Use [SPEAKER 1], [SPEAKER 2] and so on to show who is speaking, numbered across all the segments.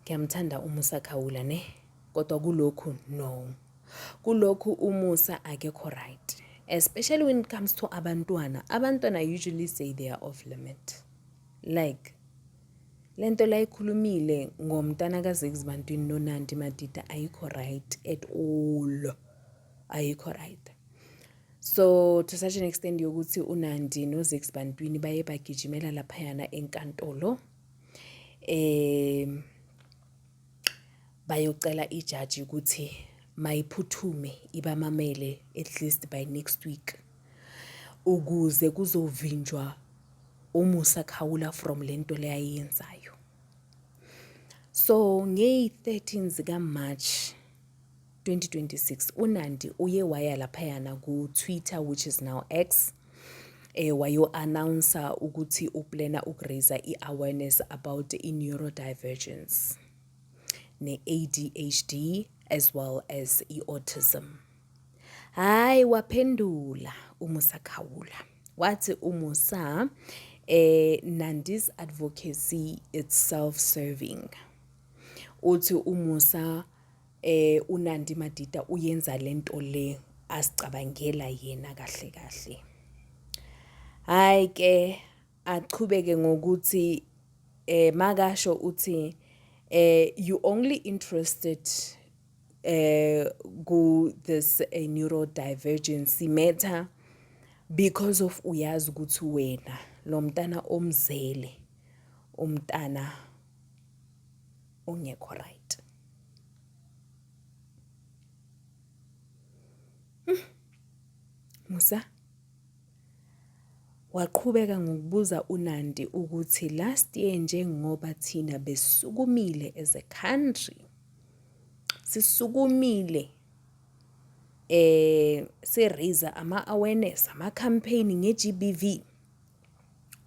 [SPEAKER 1] Ngiyamthanda uMusa Khawula ne kodwa kulokhu no. Kulokhu uMusa akekho right. Especially when it comes to abantwana. Abantwana usually say they are off limit. Like lento la ikhulumile ngomntana kaZiggs bantwini noNandi Madida ayikho right at all. Ayikho right. So to such an extent yokuthi uNandi noZiggs bantwini baye bagijimela laphayana enkantolo. eh bayocela ijaji ukuthi mayiphuthume ibamamele at least by next week ukuze kuzovinjwa umusa khawula from lento leyayenzayo so ngey 13 zika March 2026 uNandi uye waya laphayana ku-Twitter which is now X eh wayo-announcer ukuthi uplana ukuraiser i-awareness about i-neurodivergence ne-ADHD as well as i-autism. Hhayi waphendula uMusa Khawula wathi uMusa eh Nandi's advocacy it's self-serving. Uthi uMusa Eh uNandi Madida uyenza lento le asicabangela yena kahle kahle. Hayi ke achubeke ngokuthi eh makasho uthi eh you only interested eh ku this eh, neurodivergency matter because of uyazi ukuthi wena lo mntana omzele umntana ongekho right hmm. Musa waqhubeka ngokubuza uNandi ukuthi last year njengoba thina besukumile as a country sisukumile eh se raise ama awareness ama campaign nge GBV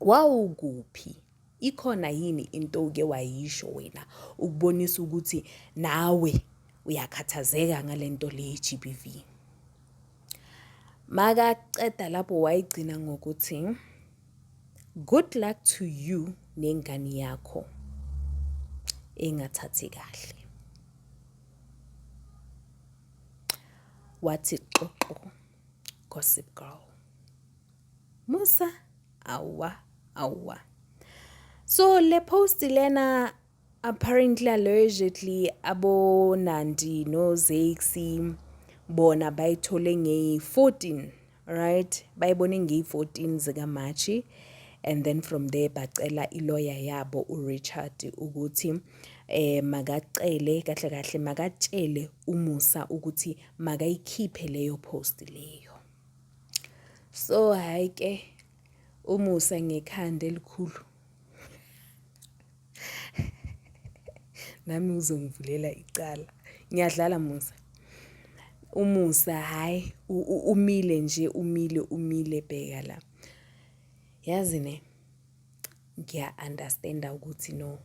[SPEAKER 1] Wawukuphi? Ikhona yini into oke wayisho wena ukubonisa ukuthi nawe uyakhathazeka ngale nto le ye-G_B_V? Makaceda lapho wayigcina ngokuthi good luck to you nengane yakho engathathi kahle. Wathi xoxo gossip girl. Musa awwa awwa so le post lena apparently allegedly abonandi nozaxi bona bayithole ngeyi-14 right bayibone ngeyi-14 zikamarchi and then from there bacela iloya yabo urichard ukuthi um eh, makacele kahle kahle makatshele umusa ukuthi makayikhiphe leyo post leyo So hhayi ke umusa ngekhanda elikhulu. Nami uzongivulela icala. Ngiyadlala Musa. Umusa hhayi umile nje umile umile bheka la. Yazi ne. ngiya-understand-a ukuthi no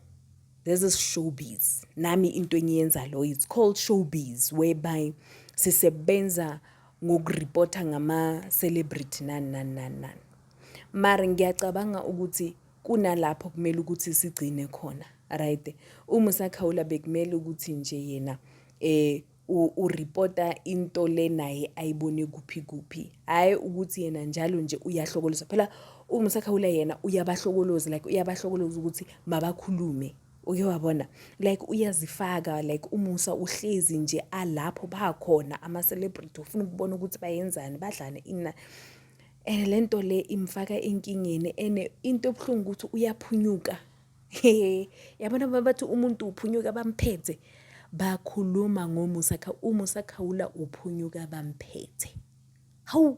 [SPEAKER 1] this is showbiz nami into engiyenza lo it's called showbiz whereby sisebenza ngokuripota ngama-celebrity nani nani nani nani mara ngiyacabanga ukuthi kunalapho kumele ukuthi sigcine khona right uma usakhawula bekumele ukuthi nje yena um uripota into le naye ayibone kuphi kuphi hhayi ukuthi yena njalo nje uyahlokoloza phela uMsakhawula yena uyabahlokoloza like uyabahlokoloza ukuthi mabakhulume uke wabona like uyazifaka like umusa uhlezi nje alapho bakhona ama-celebrity ufuna ukubona ukuthi bayenzani badlane ina and le nto le imfaka enkingeni and into ebuhlungu ukuthi uyaphunyuka He, yabona uma bathi umuntu uphunyuka bamphethe, bakhuluma ngoMusa Khawula, uMusa Khawula uphunyuka bamphethe. Hawu!